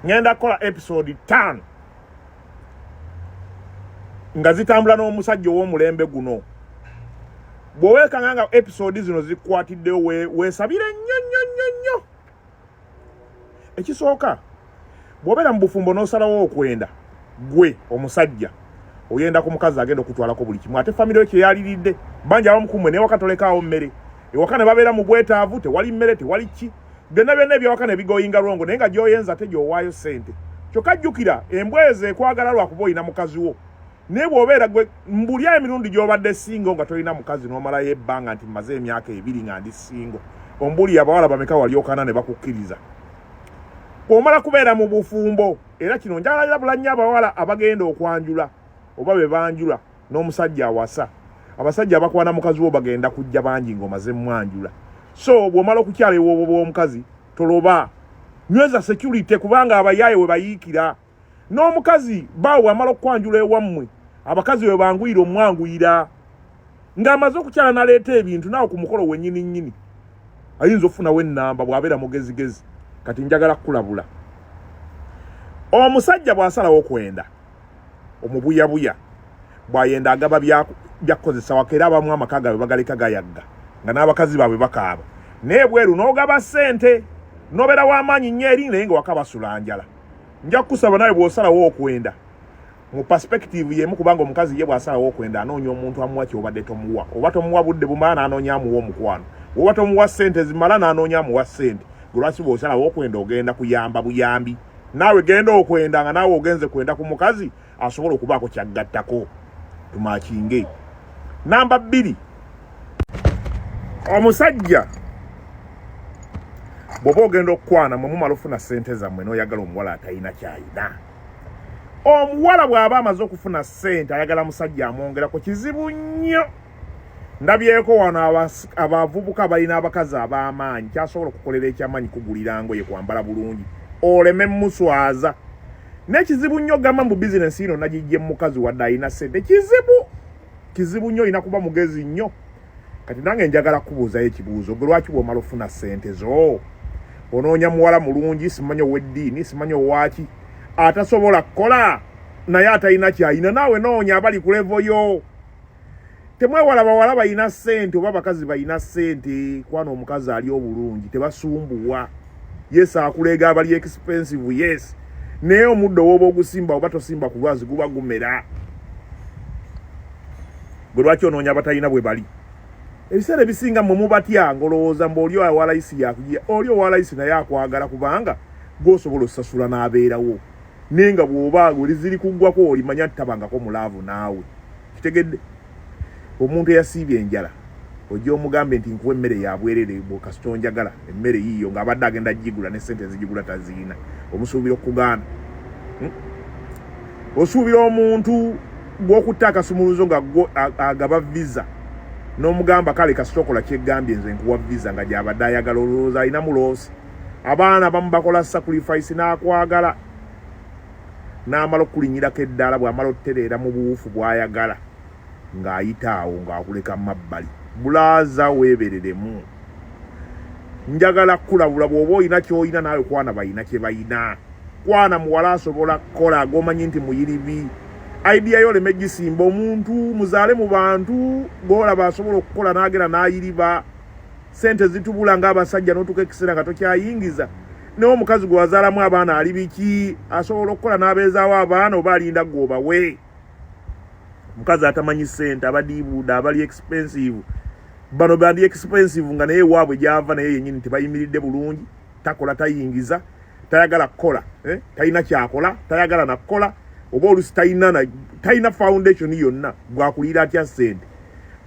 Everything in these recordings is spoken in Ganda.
ngenda kukola episode tano nga zitambula n'omusajja ow'omulembe guno bw'oweekanga nga episode zino zikwatiddewo weesabire nnyo nnyo nnyo nnyo ekisooka bw'obeera mu bufumbo n'osalawo okwenda gwe omusajja oyenda ku mukazi agenda okutwalako buli kimu ate famiry yo kyeyaliridde banja abamukumwe naye wakatolekaawo mmere ewaka ne babeera mu bwetaavu tewali mmere tewali ki byonna byonna ebyawaka ne bigoyinga lwongo naye nga gyoyenza ate gyowaayo ssente kyokka jjukira embwa ezo ekwagala lwakuba olina mukazi wo naye bw'obeera gwe mbuli emirundi gy'obadde singo nga tolina mukazi n'omalayo ebbanga nti mmaze emyaka ebiri nga ndi singo ombuli abawala bameka walyokana ne bakukkiriza bw'omala kubeera mu bufumbo era kino njagalira bulannyo abawala abagenda okwanjula oba be banjula n'omusajja awasa abasajja abakwana mukazi wo bagenda kujja bangi ng'omaze mwanjula so bw'omala okukyala ewoobo bw'omukazi toloba nyweza security kubanga abayaaye we bayiikira n'omukazi baawe amala okukwanjula ewammwe abakazi we banguyira omwanguyira ng'amaze okukyala naleeta ebintu naawe ku mukolo wenyini nyini ayinza okufunawo ennamba bw'abeera mugezigezi kati njagala kukulabula omusajja bw'asalawo okwenda omubuyabuya bwayenda agaba byakukozesa wako era abamu amaka gaabwe bagaleka gayagga nga n'abakazi baabwe bakaaba naye bweru n'ogaba ssente nobeera w'amaanyi nnyo eri naye nga waka basula njala nja kukusaba nawe bw'osalawo okwenda mu perspective yemu kubanga omukazi ye bw'asalawo okwenda anoonya omuntu amuwa kyobadde tomuwa oba tomuwa budde bumala n'anoonya amuwa omukwano oba tomuwa ssente zimala n'anoonya amuwa ssente gwe lwaki bw'osalawo okwenda ogenda kuyamba buyambi naawe genda okwenda nga naawe ogenze kwenda ku mukazi asobola okubaako kyaggattako tumakinge namba bbiri omusajja bwoba ogenda okukwana mwe mumala ofuna sente zammwe noyagala omuwala atalina kyayina omuwala bw'aba amaze okufuna sente ayagala musajja amwongerako kizibu nnyo ndabyeko wano abavubuka balina abakazi ab'amaanyi kyasobola okukolera ekyamaanyi kugulira ngoye kwambala bulungi oleme muswaza n'ekizibu nnyo gamba mbu bizinensi ino nagijje mukazi wadde alina sente kizibu kizibu nnyo olina kuba mugezi nnyo kati nange njagala kubuuzayo ekibuuzo gwe lwaki bwomala ofuna sente zo onoonya muwala mulungi simanyi ow'eddiini simanyi owaki atasobola kukola naye atalina kyalina naawe noonya abali kulevoyo temwewala bawala balina sente oba abakazi balina sente kwana omukazi ali obulungi tebasumbuwa yes akuleega abali expensive yes naye omuddo woba ogusimba oba tosimba ku lwazi guba gumera gwe lwaki onoonya abatalina bwe bali ebiseera ebisinga mwe mubatya ngolowooza mbu oli owalayisi yakuja oli owalayisi naye akwagala kubanga gwosobola osasula n'abeerawo naye nga bw'oba oliziri kuggwako olimanya nti tabangako mu laavu naawe kitegedde omuntu eyasiibye enjala ojja omugambe nti nkuwa emmere yabwerere kasita onjagala emmere yiiyo ng'abadde agenda gigula ne sente ezigigula taziyina omusuubira okugaana hmm? osuubira omuntu gw'okutta akasumuluzo nga agaba visa n'omugamba kale kasita okola kyegambye nze nkuwa visa nga gyabadde ayagala olowooza alinamu loosi abaana abamu bakola sacrifice n'akwagala n'amala okukulinyirako eddaala bw'amala otereera mu buwufu bw'ayagala ng'ayita awo ng'akuleka mu mabbali bulaaza weebereremu njagala kukulabula bw'oba olina ky'olina naawe kwana balina kye balina kwana muwala asobola kukola g'omanyi nti muyiribi idea yo oleme gisimba omuntu muzaale mu bantu g'olaba asobola okukola n'agera n'ayiriba sente zitubula nga abasajja notuka ekiseera nga tokyayingiza naye omukazi gwe wazaalamu abaana ali biki asobola okukola n'abeezaawo abaana oba alinda gwe obawe omukazi atamanyi sente abadiibuuda abali expensive bano bandi expensive nga naye waabwe gyava naye yenyini tebayimiridde bulungi takola tayingiza tayagala kukola eh? talina kyakola tayagala nakukola oba olusi talina talina foundation yonna gwakulira atya sente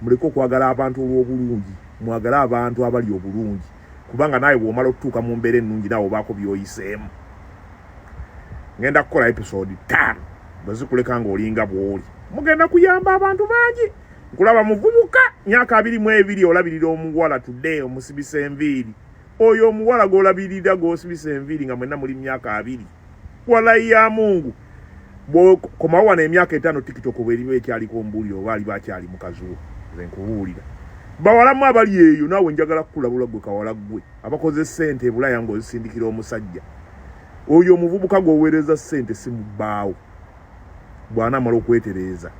muleke okwagala abantu olw'obulungi mwagale abantu abali obulungi kubanga naawe bwomala okutuuka mu mbeera ennungi naawe obaako byoyiseemu ngenda kukola episode taano bwe zikuleka ng'olinga bw'oli mugenda kuyamba abantu bangi nkulaba muvubuka myaka abiri mu ebiri olabirira omuwala today omusibisa enviiri oyo omuwala gw'olabirira gw'osibisa enviiri nga mwenna muli myaka abiri walayi ya mungu bwokoma wano emyaka etaano tiktok oba erimu ekyaliko ombuulire oba aliba akyali mukazi wo nze nkubuulira bawalamu abali eyo naawe njagala kukulabula gwe kawala gwe abakoze sente ebulaya ngaozisindikira omusajja oyo omuvubuka gwoweereza sente simubbaawo bwanamala okwetereeza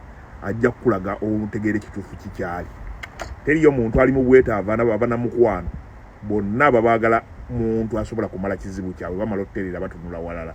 ajja kukulaga obutegeera ekituufu kikyali teriyo muntu ali mu bwetaavu anaba abanamukwano bonna babaagala muntu asobola kumala kizibu kyabwe bamala otutereera batunula walala